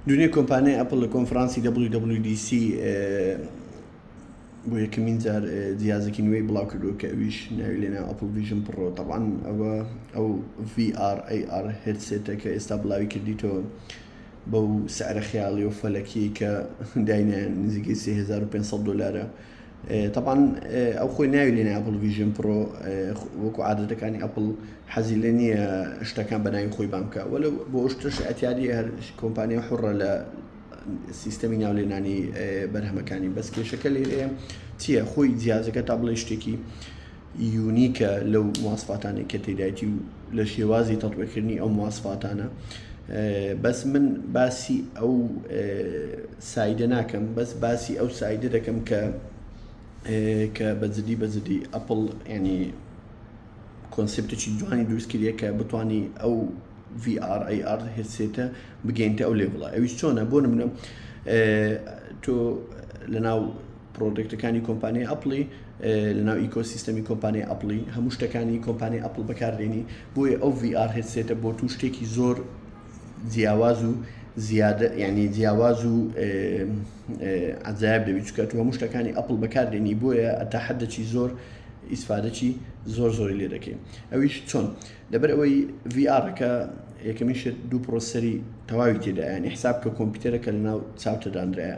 دونێ کۆمپانیای ئەپل لە کۆنفرانسی WWDC بۆ یەکەمین جار جیازێکی نوێی بڵاو کردو کە ئەویش ناوی لێنا ئەپل ویژن پڕۆ تەوان ئەوە ئەو VRAR هێتسێتە کە ئێستا بڵاوی کردیتەوە بەو سعرە خیاڵی و فەلەکی کە داینە نزیکەی 3500 دلارە تەبعەن ئەو خۆی ناوی لێنایە ئەپڵ ڤیژن پڕۆ وەکو عادەتەکانی ئەپڵ حەزی لێ نییە شتەکان بەناوی خۆی بام بکە وەلو بۆ شتش ئەتیادی هەر کۆمپانیا حڕە لە سیستەمی ناو لێنانی بەرهەمەکانی بەس کێشەکە لێ چییە خۆی جیازەکە تا بڵێ شتێکی یونیکە لەو مواسفاتانەی کە تێدایتی و لە شێوازی تەتبیقکردنی ئەو مواسفاتانە بەس من باسی ئەو سایدە ناکەم بەس باسی ئەو سایدە دەکەم کە کە بەجددی بەجددی ئەپل ینی کۆنسپتێکی جوانی دروستکردە کە بتانی ئەو VRAR هێسێتە بگەینتە ئەو لێ بڵە ئەویش چۆنە بۆ منە تۆ لە ناو پرۆدەکتەکانی کۆمپانیای ئەپڵی لەناو ئیکۆ سیستەمی کۆمپانیای ئەپڵی هەموو شتەکانی کۆمپانی ئەپل بەکاردێنی بۆیە ئەو VR هێتسێتە بۆ تو شتێکی زۆر جیاواز و زیادە یعنی جیاواز و عجایب دەبیت چکە تو هەموو شتەکانی ئەپل بەکاردێنی بۆیە ئەتا حدەچی زۆر ئیسفادەچی زۆر زۆری لێ دەکەین ئەویش چۆن لەبەر ئەوەی VRەکە یەکەمیشت دوو پرۆسەری تەواوی تێدایانی حساب کە کۆمپیوتەرەکە لە ناو چاوتەدانرایە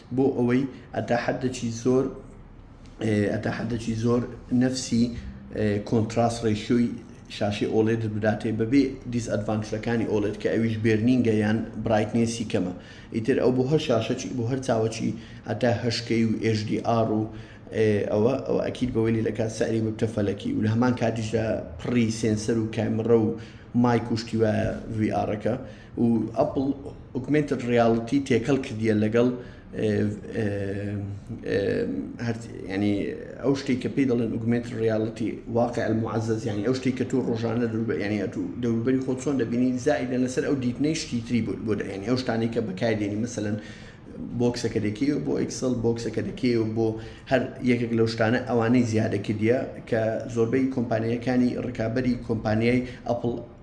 بۆ ئەوەی ئەتا حەددەکی زۆر ئەتا حەددەکی زۆر نەفسی کۆنتراس ڕێشیۆی شاشی ئۆڵێت بداتێ بەبێ دیس ئەدڤانسەکانی ئۆڵێت کە ئەویش بێرنینگە یان برایتنێسی کەمە ئیتر ئەو بۆ هەر شاشەکی بۆ هەر چاوەکی هەتا هەشکەی و ئێژدی ئار و ئەوە ئەو ئەکیل بەوەی لە کات سەری بتە فەلەکی و لە هەمان کاتیشدا پڕی سێنسەر و کامڕە و مای کوشتی وایە وی ئارەکە و ئەپڵ ئوگمێنتد ڕیاڵتی تێکەڵ کردیە لەگەڵ ینی ئەو شتێک کە پێی دەڵێن ئوگمێنت ڕیاڵتی واقع المعزز ینی ئەو شتێک کە تۆ ڕۆژانە ینی ئەتو دەوروبەری خۆ چۆن دەبینی زائیدە لەسەر ئەو دیتنەی شتی تری بوو بۆ دەێنی ئەو شتانی کە بەکاردێنی مەسەن بۆکسەکە دەکەی و بۆ ئەکسل بۆکسەکە دەکەی و بۆ هەر یەکێک لەو شتانە ئەوانەی زیادە کردە کە زۆربەی کۆمپانیەکانی ڕکابی کۆمپانیای ئەپل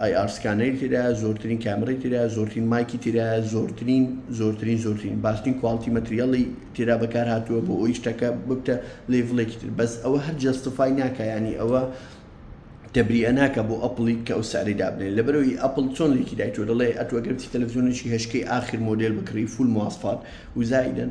ئای ئار سکانەری تێدایە زۆرترین کامێرای تێدایە زۆرترین مایکی تێدایە زۆرترین زۆرترین زۆرترین باشترین کواڵتی مەتریاڵی تێدا بەکار هاتووە بۆ ئەوی شتەکە ببتە لێڤڵێکی تر بەس ئەوە هەر جەستفای ناکە ینی ئەوە تەبریە ناکە بۆ ئەپڵی کە ئەو ساری دابنێن لەبەرەوەی ئەپل چۆن لێکی دایتۆ دەڵێ ئەتوەگەرتی تەلەڤزیۆنێکی هشکەی ئاخر مۆدل بکڕی فول مواسفات وزایدن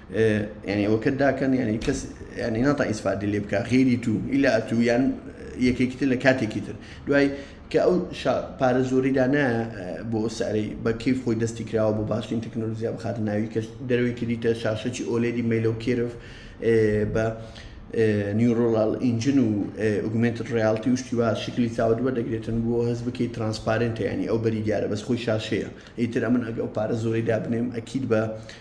یانی ئەوەکەت داکەن یانی کەس یانی ناتا ئیسفادی لێ بکە غێری تو ئیلا ئەتو یان یەکێکی تر لە کاتێکی تر دوای کە ئەو پارە زۆری دانا بۆ سارەی بە کیف خۆی دەستی کراوە بۆ باشترین تەکنۆلۆژیا بخات ناوی کەش دەروی کردیتە شاشەکی ئۆلێدی مەیلە و کێرف بە نیورۆڵال ئینجن و ئوگومنت ڕالتی و شتیوا شکلی چاوە دووە دەگرێتن بۆ هەز بکەی ترانسپارنتە ینی ئەو بەری دیارە بەس خۆی شاشەیە ئیتر ئەمن ئەگە ئەو پارە زۆری دابنێم ئەکیید بە